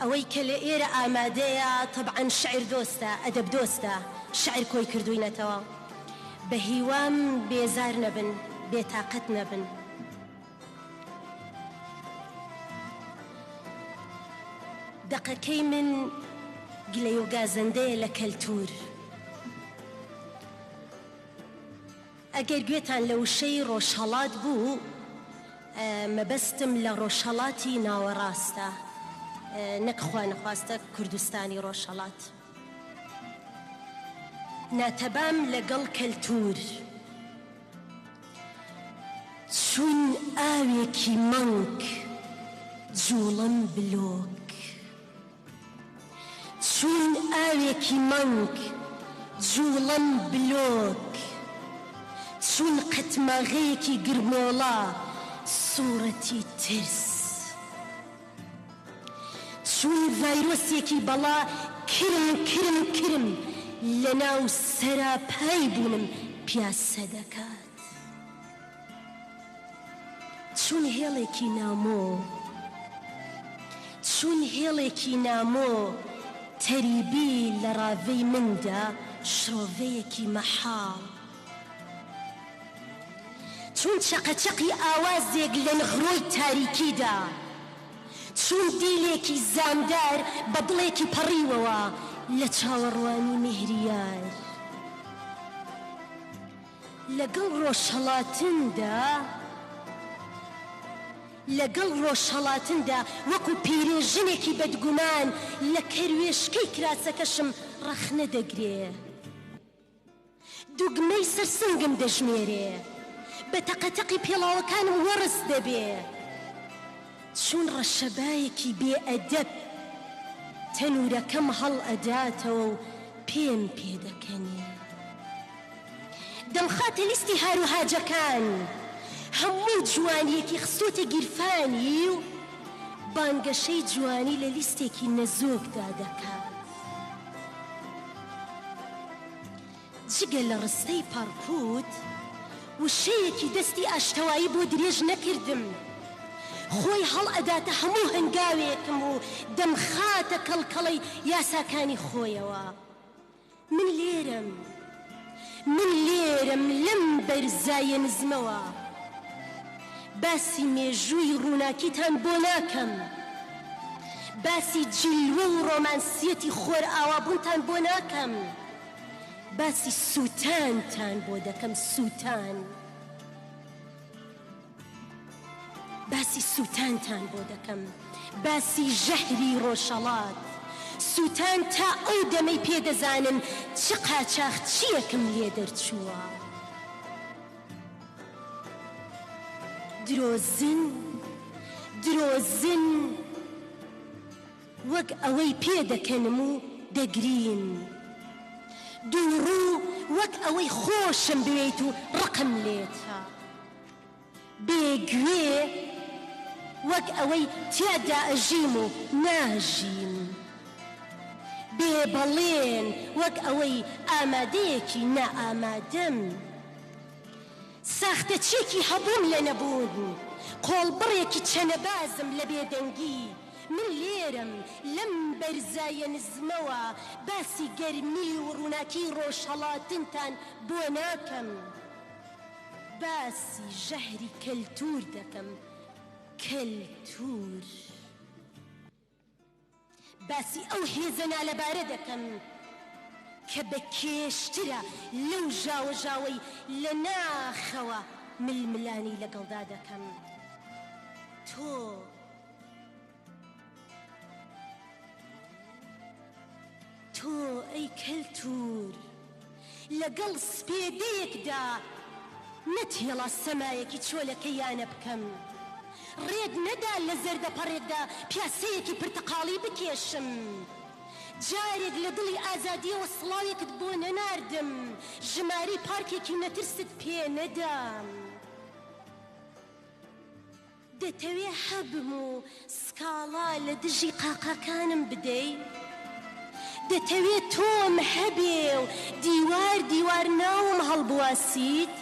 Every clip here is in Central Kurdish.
ئەوەی کە لە ئێرە ئامادەیە تەبعەن شیعر دۆستە، ئەدەب دۆستە، شیعر کۆی کردووینەتەوە. بە هیوام بێزار نەبن، بێتاقەت نەبن. دەقەکەی من گلەیۆ گازەندەیە لە کەلتوور. ئەگەر گوێتان لە وشەی ڕۆژهەڵات بوو، مەبەستم لە ڕۆژهەڵاتی ناوەڕاستە، نەک خوانەخواستە کوردستانی ڕۆژهەڵات. ناتەبام لەگەڵ کەلتوور، چون ئاوێکی مەنگ جووڵەم بلۆک. چوون ئاوێکی مەنگ جووڵەن بلۆک چوون قەتماغەیەکی گرمۆڵە سووڕەتی ترس چوون ڤایرۆسێکی بەڵا کرم کرم کرم لەناو سەراپای بوونم پیاسە دەکات. چون هێڵێکی نامۆ، چون هێڵێکی نامۆ تەری بی لە ڕاڤەی من دا شڕۆڤەیەکی مەحاڵ چون چەقەچەقی ئاوازێک لە نغرۆی تاریکی دا چون دیلێکی زامدار بە دڵێکی پەڕیوەوە لە چاوەڕوانی مێهریار. لەگەڵ ڕۆژهەڵاتندا، لەگەڵ ڕۆژهەڵاتندا وەکو پیرێژنێکی بەدگومان لە کەروێشکەی کراسەکەشم ڕەخنە دەگرێ. دوگمەی سەر سنگم دەژمێرێ. بە تەقەتەقی پێڵاوەکانم وەڕس دەبێ. چون ڕەشەبایەکی بێ ئەدەب تەنورەکەم هەڵئەداتەوە و پێم پێدەکەنێ. دەمخاتە لیستی هاروهاجەکان هەموو جوانیەکی خستۆتە گیرفانی و بانگەشەی جوانی لە لیستێکی نەزۆکدا دەکات جگە لە ڕستەی پەڕپووت وشەیەکی دەستی ئاشتەوایی بۆ درێژ نەکردم خۆی هەڵئەداتە هەموو هەنگاوێکم و دەمخاتە کەڵکەڵەی یاساکانی خۆیەوە من لێرەم، من لێرەم لەم بەرزایە نزمەوە، باسی مێژووی ڕووناکیتان بۆ ناکەم، باسی جیلوە و ڕۆمانسییەتی خۆرئاوابوونتان بۆ ناکەم، باسی سووتانتان بۆ دەکەم، سووتان. باسی سووتانتان بۆ دەکەم، باسی ژەهری ڕۆژهەڵات، سووتان تا ئەو دەمەی پێ دەزانن چ قاچاخچییەکم لێ دەرچووە. درۆزن، درۆزن، وەک ئەوەی پێ دەکەنم و دەگریم. دووڕوو، وەک ئەوەی خۆشم بوێیت و ڕقم لێتە. بێ گوێ وەک ئەوەی تیادا ئەژیم و ناژیم. بێ بەڵێن وەک ئەوەی ئامادەیەکی نائامادەم. ساختەچیەکی هەبووم لە نەبوون، قۆڵبڕێکی چەنەبازم لە بێدەنگی. من لێرەم لەم بەرزایە نزمەوە باسی گەرمی و ڕووناکیی ڕۆژهەڵاتنتان بۆ ناکەم. باسی ژەهری کەلتوور دەکەم، کەلتوور. باسی ئەو هێزە نالەبارە دەکەم کە بە کێشترە لەو ژاوەژاوەی لە ناخەوە ململانێی لەگەڵدا دەکەم. تۆ. تۆ ئەی کەلتور لەگەڵ سپێدەیەکدا نەتهێڵا سەمایەکی چۆلەکە یانە بکەم ڕێت نەدا لە زەردە پەڕێکدا پیاسەیەکی پرتەقاڵی بکێشم جارێک لە دڵی ئازادیەوە سڵاوێکت بۆ نەناردم ژمارەی پارکێکی نەترست پێ نەدام. دەتەوێ هەبم و سکاڵا لە دژی قاقاکانم بدەی؟ دەتەوێ تۆم هەبێ و دیوار دیوار ناوم هەڵبواسیت؟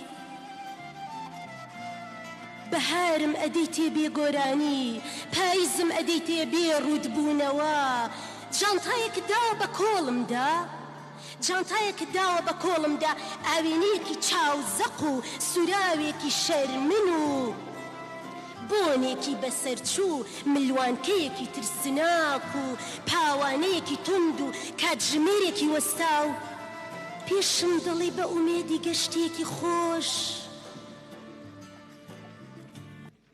بەهارم ئەدەیتێ بێ گۆرانی، پایزم ئەدەیتێ بێ ڕووت بوونەوە، جانتایەکت داوە بە کۆڵمدا؟ جانتایەکت داوە بە کۆڵمدا ئاوێنەیەکی چاو زەق و سوراوێکی شەرمن و بۆنێکی بەسەرچوو ملوانکەیەکی ترسناک و پاوانەیەکی توند و کاتژمێرێکی وەستاو پێشم دەڵێی بە ئومێدی گەشتێکی خۆش.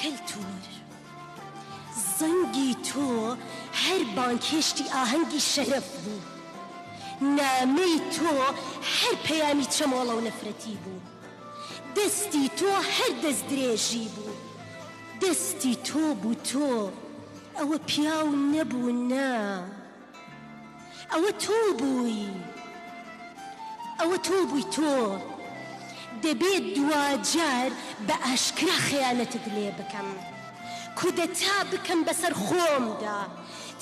کەلتوور زەنگی تۆ هەر بانگهێشتی ئاهەنگی شەرەف بوو، نامەی تۆ هەر پەیامی چەمۆڵە و نەفرەتی بوو، دەستی تۆ هەر دەستدرێژی بوو، دەستی تۆ بوو تۆ، ئەوە پیاو نەبوو نا، ئەوە تۆ بووی ئەوە تۆ بووی تۆ دەبێ دواجار بە ئاشکرا خەیانەتت لێ بکەم کودەتا بکەم بەسەر خۆمدا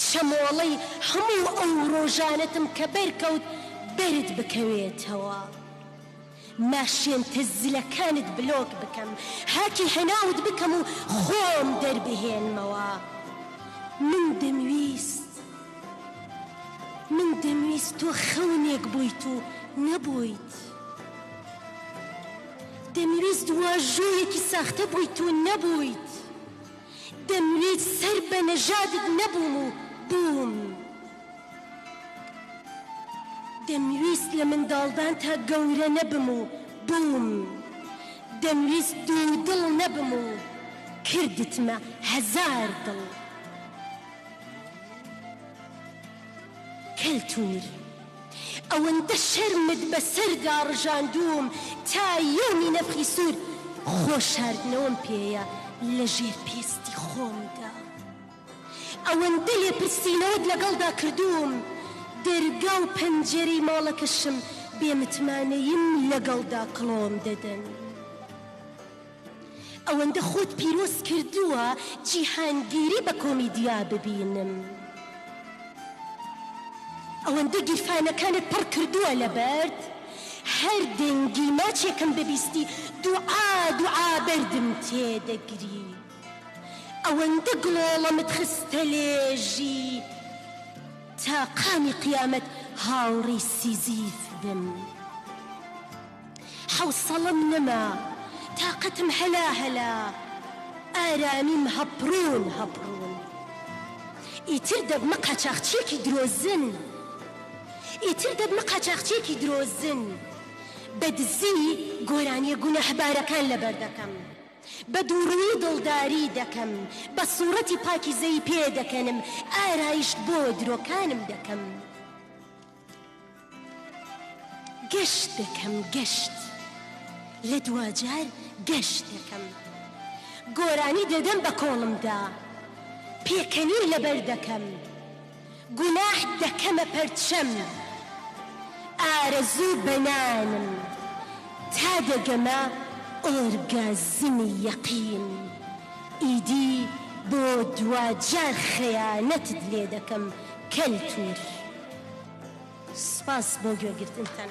چەمۆڵەی هەموو ئەو ڕۆژانەتم کە بەرکەوت بەرت بکەوێتەوە ناشێنتە زلەکانت بلۆک بکەم هاکی هەناوت بکەم و خۆم دەربهێنمەوە من دەمویست من دەمویست تۆ خەونێک بویت و نەبویت دەمویست واژۆیەکی ساختە بویت و نەبویت دەمویست سەر بە نەژادت نەبوم و بوم دەمویست لە منداڵدان تا گەورە نەبم و بووم، دەمویست دوودڵ نەبم و کردتمە هەزار دڵ. کەلتوور، ئەوەندە شەرمت بەسەردا ڕژاندووم، تا یەومی نەفخی سوور خۆ شاردنەوەم پێیە لە ژێر پێستی خۆمدا. ئەوەندە لێپرسینەوەت لەگەڵدا کردووم، دەرگا و پەنجەرەی ماڵەکەشم بێ متمانەییم لەگەڵدا کڵۆم دەدەن. ئەوەندە خۆت پیرۆز کردووە جیهانگیری بە کۆمیدیا ببینم. ئەوەندە گیرفانەکانت پڕ کردووە لە بەرد، هەر دەنگی ماچێکم ببیستی دوعا دوعا بەردم تێدەگری. ئەوەندە گڵۆڵەمت خستە لێژی تا قامی قیامەت هاوڕی سیزیف بم حەوسەڵەم نەما تاقەتم هەلا هەلا ئارامیم هەپڕون هەپڕون ئیتر دەبمە قاچاخچیەکی درۆزن ئیتر دەبمە قاچاخچیەکی درۆزن بە دزی گۆرانیە گوناهبارەکان لەبەردەکەم. بە دووڕووی دڵداری دەکەم، بە سووڕەتی پاکیزەی پێ دەکەنم، ئارایشت بۆ درۆکانم دەکەم. گەشت دەکەم، گەشت. لە دواجار گەشت دەکەم. گۆرانی دەدەم بە کۆڵمدا. پێکەنین لەبەر دەکەم. گوناح دەکەمە پەرچەم ئارەزوو بەنانم تا دەگەمە ئۆرگازمی یەقین ئیدی بۆ دواجار خەیانەتت لێ دەکەم کەلتور سوپاس بۆ گوێگرتنتان.